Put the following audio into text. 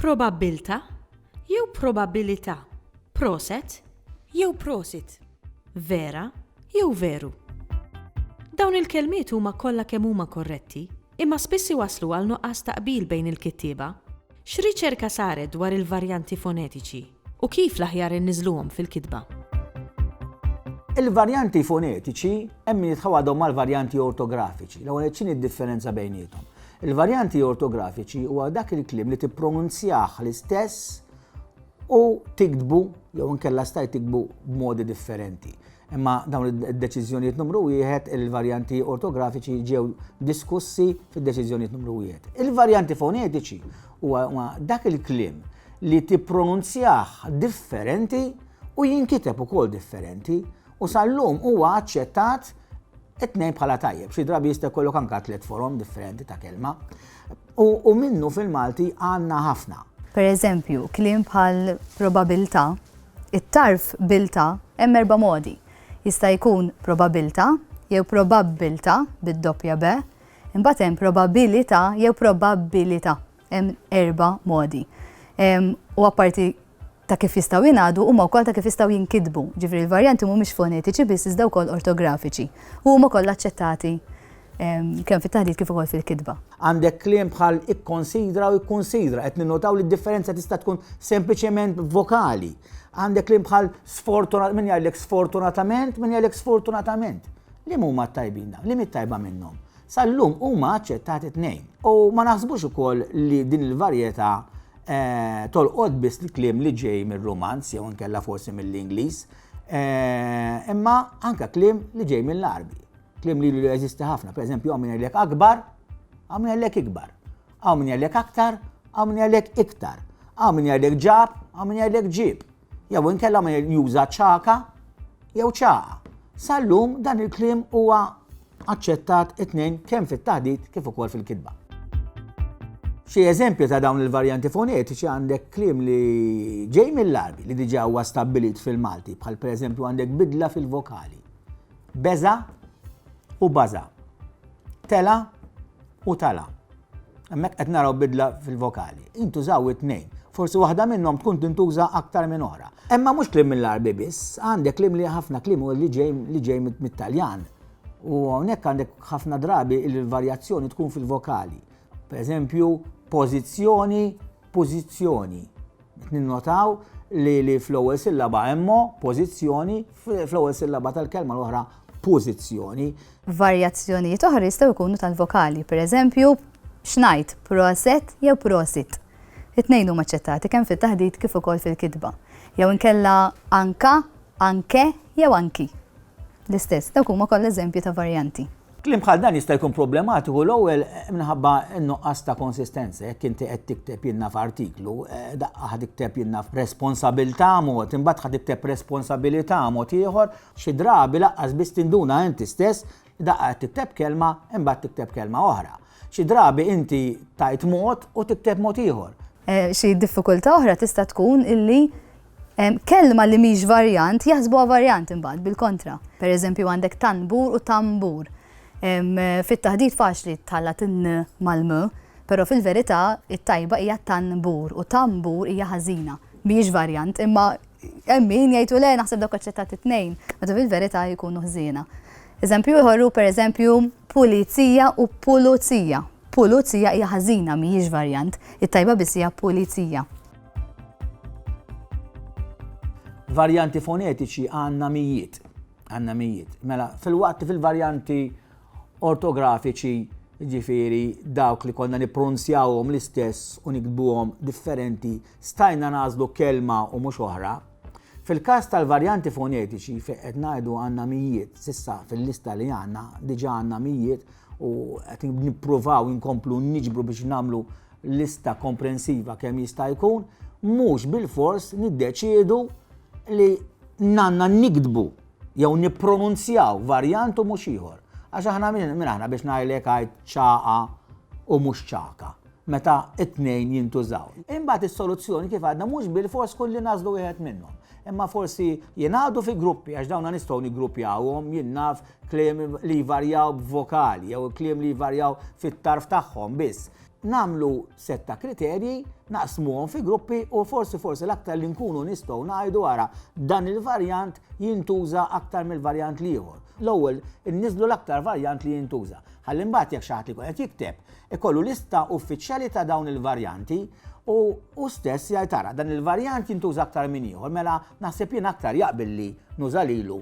Probabbiltà jew probabilità? Proset jew prosit? Vera jew veru? Dawn il-kelmiet huma kollha kemm huma korretti, imma spiss iwasslu għal nuqqas ta' qbil bejn il-kittieba. X'riċerka saret dwar il-varjanti fonetiċi, u kif l-aħjar inniżluhom fil-kitba? Il-varjanti fonetiċi hemm min jitħaw għadhom mal-varjanti ortografiċi. L-ewwel nett x'inhi d-differenza bejniethom? Il-varjanti ortografiċi huwa dak il-kliem li tippronunzjah l-istess u tiktbu jew inkella stajt tiktbu b'modi differenti. Imma dawn id-deċiżjonijiet numru wieħed, il-varjanti ortografiċi ġew diskussi fid-deċiżjonijiet numru wieħed. Il-varjanti fonetiċi huwa dak il-kliem li tippronunzjah differenti u jinkiteb ukoll differenti u sal-lum huwa aċċettat it-tnejn bħala tajjeb. Xi drabi jista' jkollok anke tliet forom differenti ta' kelma. U minnu fil-Malti għandna ħafna. Per eżempju, kliem bħal probabilità It-tarf biltà hemm erba' modi. Jista' jkun probabiltà jew probabbiltà bid-doppja bè, imbagħad hemm probabilità jew probabbilità. Hemm erba' modi. U apparti ta' kif jistgħu jingħadu, huma wkoll ta' kif jistgħu jinkitbu. Ġifieri l-varjanti mhumiex fonetiċi biss iżda wkoll ortografiċi. U huma kollha aċċettati kemm fit-taħdit kif ukoll fil-kitba. Għandek kliem bħal ikkonsidra u ikkonsidra, qed ninnotaw li d-differenza tista' tkun sempliċement vokali. Għandek kliem bħal sfortunat, min jgħidlek sfortunatament, min jgħidlek sfortunatament. Li huma tajbin dawn, li tajba minnhom. Sal-lum huma aċċettati tnejn. U ma naħsbux ukoll li din il-varjetà eh, tolqod biss li kliem li ġej mir-romanz jew nkella forsi mill-Ingliż, eh, imma anka kliem li ġej mill-Arbi. Klim li jeżisti ħafna, per eżempju, għaw minn jgħidlek akbar, għaw minn jgħidlek ikbar, għaw minn jgħidlek aktar, għaw minn jgħidlek iktar, għaw minn jgħidlek ġab, għaw minn jgħidlek ġib. Jew inkella minn juża ċaka jew ċaqa. Sallum dan il-klim huwa aċċettat it-tnejn kemm fit-taħdit kif ukoll fil-kitba. Xi eżempju ta' dawn il-varjanti fonetiċi għandek klim li ġej mill-arbi li diġa huwa stabbilit fil-Malti, bħal pereżempju għandek bidla fil-vokali Beża' u baża'. Tela' u tala'. Hemmhekk qed naraw bidla fil-vokali. Intużaw it-tnejn. Forsi waħda minnhom tkun tintuża aktar minn oħra. Imma mhux kliem mill-Għarbi biss, għandek kliem li ħafna kliem hu li ġej li ġej mit-Taljan. U hawnhekk għandek ħafna drabi li l-varjazzjoni tkun fil-vokali. Per eżempju, pożizzjoni pożizzjoni. Ninnotaw li li fl-ewwel sillaba hemmo pożizzjoni, fl-ewwel sillaba tal-kelma l-oħra pożizzjoni. Varjazzjonijiet oħra jistgħu jkunu tal-vokali, pereżempju xnajt, proset jew prosit. It-tnejn huma ċċettati kemm fit-taħdit kif ukoll fil-kitba. Jew inkella anka, anke jew anki. L-istess, dawk huma kollha eżempji ta' varjanti. F'kliem bħal dan jista' jkun problematiku l-ewwel minħabba n-nuqqas ta' konsistenza. Jekk inti qed tikteb jien naf artiklu, eh, daqqa ħad tikteb jien naf responsabilità mod, imbagħad ħad tikteb responsabilità mod ieħor, xi drabi laqqas biss tinduna inti stess daqqa qed tikteb kelma imbagħad tikteb kelma oħra. Xi drabi inti tajt mod u tikteb mod ieħor. Eh, xi diffikultà oħra tista' tkun illi Kelma li mhix varjant jaħsbuha varjant imbagħad bil-kontra. Per eżempju għandek tanbur u tambur. Fit-taħdit faċli tħallat in mal-m, però fil-verità it-tajba hija tanbur u tambur hija ħażina. Mhijiex varjant imma hemm min jgħidu le naħseb dawk aċċettati t-tnejn, meta fil-verità jkunu ħżiena. Eżempju ieħor hu pereżempju pulizija u puluzija. Puluzija hija ħażina mhijiex varjant, it-tajba biss hija pulizija. Varjanti fonetiċi għandna mijiet. Għandna mijiet. Mela, fil-waqt fil-varjanti ortografiċi, ġifiri dawk li konna nipronzjawhom l-istess u nikdbuhom differenti, stajna nażlu kelma u mhux oħra. Fil-każ tal-varjanti fonetiċi fejn qed ngħidu għandna mijiet, sissa fil-lista li għandna, diġà għandna mijiet u qed nippruvaw inkomplu niġbru biex nagħmlu lista komprensiva kemm jista' jkun, mhux bilfors niddeċiedu li nanna nikdbu jew nippronunzjaw varjant u mhux ieħor. Għax aħna minn aħna biex ngħidlek għid ċaqa u mhux ċaka, meta t-tnejn jintużaw. Imbagħad is-soluzzjoni kif għadna mhux bilfors kulli nażlu wieħed minnhom. Imma forsi jingħadu fi gruppi għax dawna nistgħu niggruppjawhom jien naf kliem li jvarjaw b'vokali jew kliem li jvarjaw fit-tarf tagħhom biss. nagħmlu set ta' kriterji, naqsmuhom fi gruppi u forsi forsi l-aktar li nkunu nistgħu ngħidu ara dan il-varjant jintuża aktar mill-varjant liħor. L-ewwel inniżlu l-aktar varjant li jintuża. Ħalli mbagħad jekk xi ħadd ikun qed jikteb, ikollu lista uffiċjali ta' dawn il-varjanti u u stess jgħid ara dan il-varjant jintuża aktar minn ieħor, mela naħseb jien aktar jaqbilli nuża lilu